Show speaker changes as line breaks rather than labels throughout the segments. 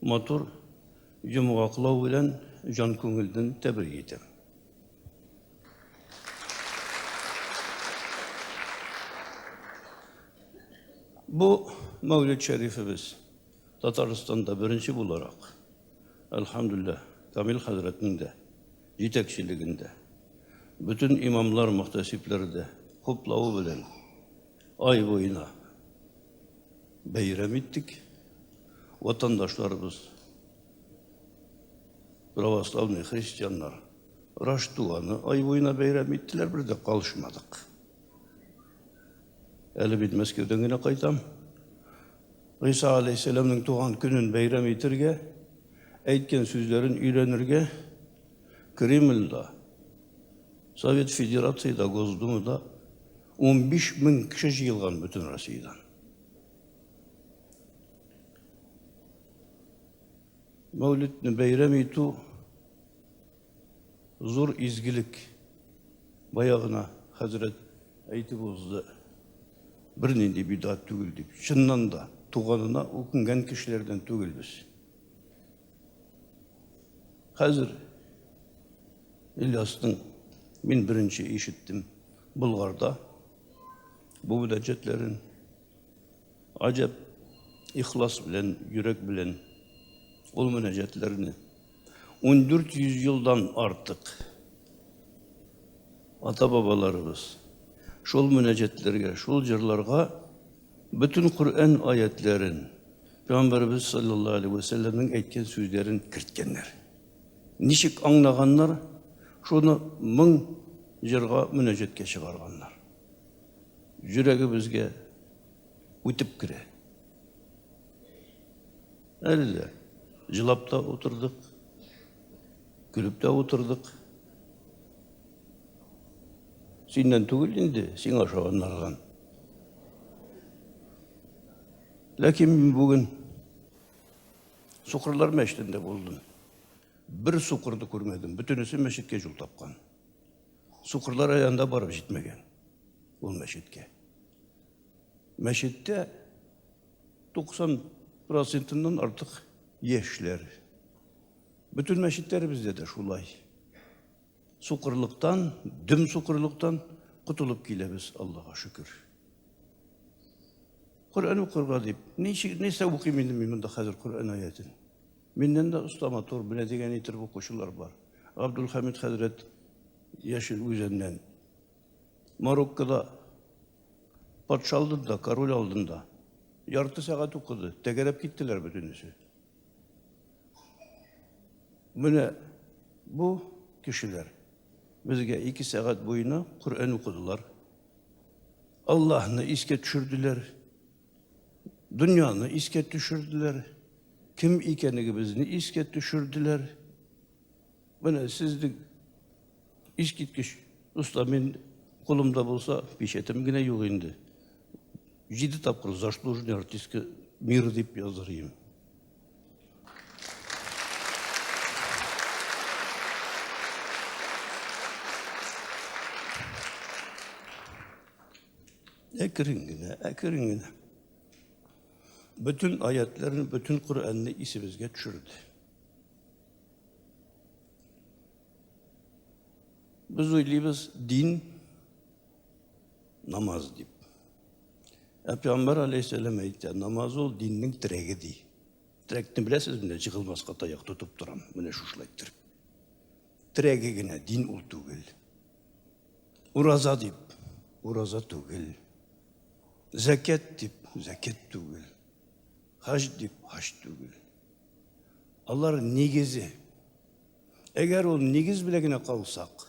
Матур йомгаклау белән җан күңелдән тәбрик итәм. Бу Мәүлид Шәрифебез Татарстанда беренче буларак, әлхәмдүлилләһ, Камил хәзрәтнең дә җитәкчелегендә, бөтен имамлар, мөхтәсибләр дә хуплавы белән Ай буена бәйрәм иттек. Ватандашларыбыз, православный христианнар, Раштуаны ай буена бәйрәм иттеләр, бер дә калышмадык. Әле бит Мәскәүдән генә кайтам. Гыйса алейхиссәламның туган көнен бәйрәм итәргә, әйткән сүзләрен өйрәнергә Кремльдә, Совет Федерацияда, Госдумада 15 мең кеше җыелган бөтен Россиядән. Мәүлидне бәйрәм итү зур изгелек. Баягына хәзрәт әйтеп узды. Бернинди бидат түгел дип. Чыннан да туганына үкенгән кешеләрдән түгел без. Хәзер Ильястың мин беренче ишеттем Болгарда бу мөнәҗәтләрен. Аҗәп ихлас белән, йөрәк белән ул мөнәҗәтләрне 1400 елдан артык ата-бабаларыбыз шул мөнәҗәтләргә, шул җырларга Бөтен Коръән аятьләрен, пәйгамбәребез салләллаһу алейһи вә сәлләмнең әйткән сүзләрен керткәннәр. Ничек аңлаганнар, шуны моң җырга мөнәҗәткә чыгарганнар. Йөрәгебезгә үтеп керә. Әле дә җылап та утырдык, көлеп тә утырдык. Синнән түгел инде, сиңа ошаганнардан. Ләкин мин бүген Сукырлар мәчетендә булдым. Бер сукырды күрмәдем. Бөтенесе мәчеткә юл тапкан. Сукырлар аянда барып җитмәгән ул мәчеткә. Мәчеттә 90 процентыннан артык яшьләр. Бөтен мәчетләребездә дә шулай. Сукырлыктан, дөм сукырлыктан котылып киләбез, Аллаһка шөкер. Коръән укырга дип, ничек нәрсә укыйм инде мин монда хәзер Коръән аятен. Миннән дә оста матур белә дигән итеп укучылар бар. Габдулхамид хәзрәт Яшел үзеннән. Мароккода патша алдында, король алдында ярты сәгать укыды, тәгәрәп киттеләр бөтенесе. Менә бу кешеләр безгә ике сәгать буена Коръән укыдылар. Аллаһны искә төшерделәр. Дөньяны искә төшерделәр. Кем икәнегебезне искә төшерделәр. Менә сезнең искиткеч дуслар мин кулымда булса печатем генә юк инде. Җиде тапкыр заслуженный артистка мира дип языр идем. Әкрен генә, әкрен генә. Бөтен аятларны, бөтен Коръәнне исебезгә төшерде. Без уйлыйбыз, дин Намаз дип. Ә Пәйгамбәр алейхиссәлам әйтә, намаз ул диннең терәге ди. Терәкне беләсез менә җыгылмаска таяк тотып торам. Менә шушылай тер. Терәге генә дин ул түгел. Ураза дип, ураза түгел. Зәкят дип, зәкят түгел. Хаҗ дип, хаҗ түгел. Алар нигезе. Әгәр ул нигез белән генә калсак,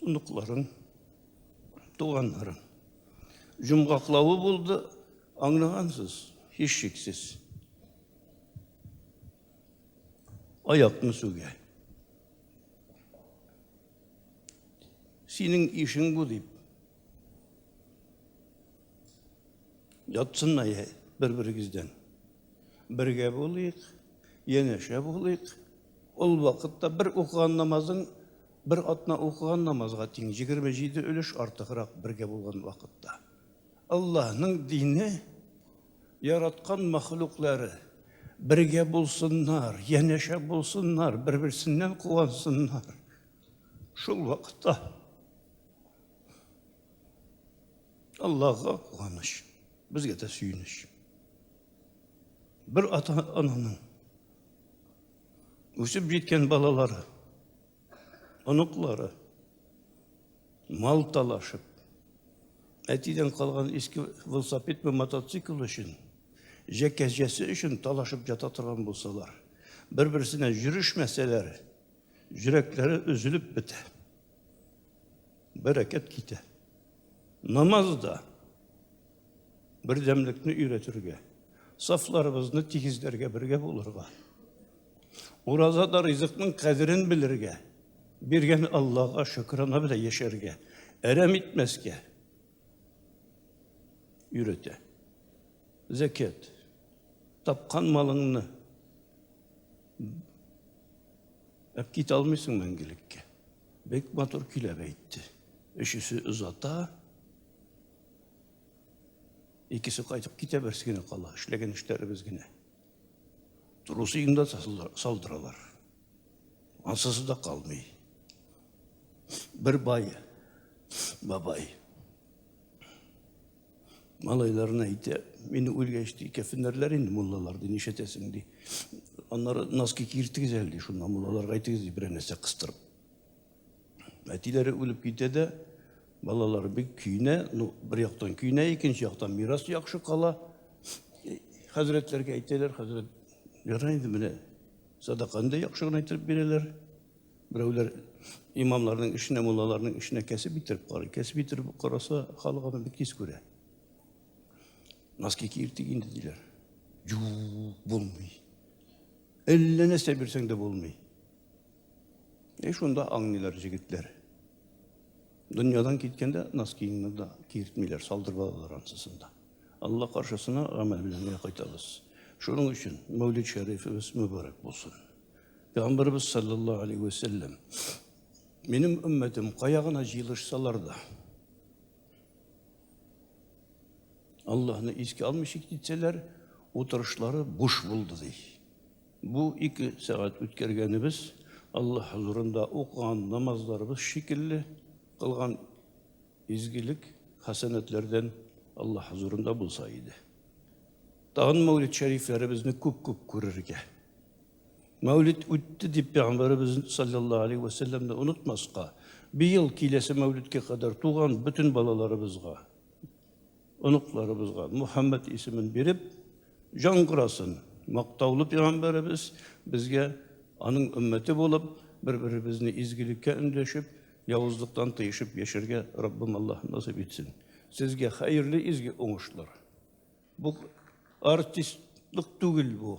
Оныкларын, туганнарын җомгаклавы булды, аңлагансыз, һичшиксез. Аякны сүгә. Синең ишең бу дип. Ятсыннар бер-берегездән. Бергә булыйк, янәшә булыйк. Ул вакытта бер укыган намазың бер атна укыган намазга тиң, 27 өлеш артыграк бергә булган вакытта. Аллаһның дине, яраткан мәхлуклары бергә булсыннар, янәшә булсыннар, бер-берсеннән куансыннар. Шул вакытта Аллаһка куаныч, безгә дә сөенеч. Бер ата-ананың үсеп җиткән балалары, оныклары мал талашып, әтидән калган иске велосипед ме мотоцикл өчен, җәкәҗәсе өчен талашып ята торган булсалар, бер-берсенә җөрешмәсәләр, җөрәкләре өзелеп бетә. Бәрәкәт китә. Намаз да Бердәмлекне өйрәтергә, сафларыбызны тигезләргә бергә булырга. Уразада ризыкның кадерен белергә, биргән Аллага шөкранә белән яшәргә, әрәм итмәскә өйрәтә. Зәкят. Тапкан малыңны әп китә алмыйсың мәңгелеккә. Бик матур көйләп әйтте. Өчесе озата, Икесе кайтып китә, берсе генә кала. Эшләгән эшләребез генә. Трусы инде салдыралар. Ансыз да калмый. Бер бай, бабай. Малайларына әйтә, мине үлгәч ди, кәфеннәрләр инде муллалар ди, нишләтәсең ди. Аннары носки киртегез әле ди, шуннан муллаларга әйтегез ди, берәр нәрсә кыстырып. Әтиләре үлеп китә дә, балалар бик көйнә, ну, бер яктан көйнә, икенче яктан мирас яхшы кала. Хәзрәтләргә әйтәләр, хәзрәт, ярай инде менә садаканы да яхшы гына итеп бирәләр. Берәүләр имамларның эшенә, муллаларның эшенә кәсеп итеп карый. Кәсеп итеп караса, халык аны бик тиз күрә. Носки киертик инде диләр. Юк, булмый. Әллә нәрсә бирсәң дә булмый. И шунда аңнилар җегетләр. Дөньядан киткәндә наз киемне дә киертмиләр, салдырып алалар ансысын да. Алла каршысына гамәл белән генә кайтабыз. Шуның өчен Мәүлид Шәрифебез мөбарәк булсын. Пәйгамбәрбез саллаллаһу алейһи ва саллям Минем өммәтем кая гына җыелышсалар да Аллаһны искә алмыйча китсәләр, утырышлары буш булды ди. Бу ике сәгать үткәргәнебез Алла хозурында укыган намазларыбыз шикелле, кылган изгелек, хәсәнәтләрдән Алла хозурында булса иде. Тагын мәүлид шәрифләребезне күп-күп күрергә. Мәүлид үтте дип пәйгамбәребез саллаллаһу алейхи ва саллямны онытмаска, быел киләсе мәүлидкә кадәр туган бөтен балаларыбызга Оныкларыбызга Мөхәммәд исемен биреп, яңгырасын! Мактаулы пигамбәребез безгә аның өммәте булып, бер-беребезне изгелеккә өндәшеп, явызлыктан тыешып яшәргә Раббым Аллаһ насыйп итсен. Сезгә хәерле изге уңышлар. Бу артистлык түгел бу.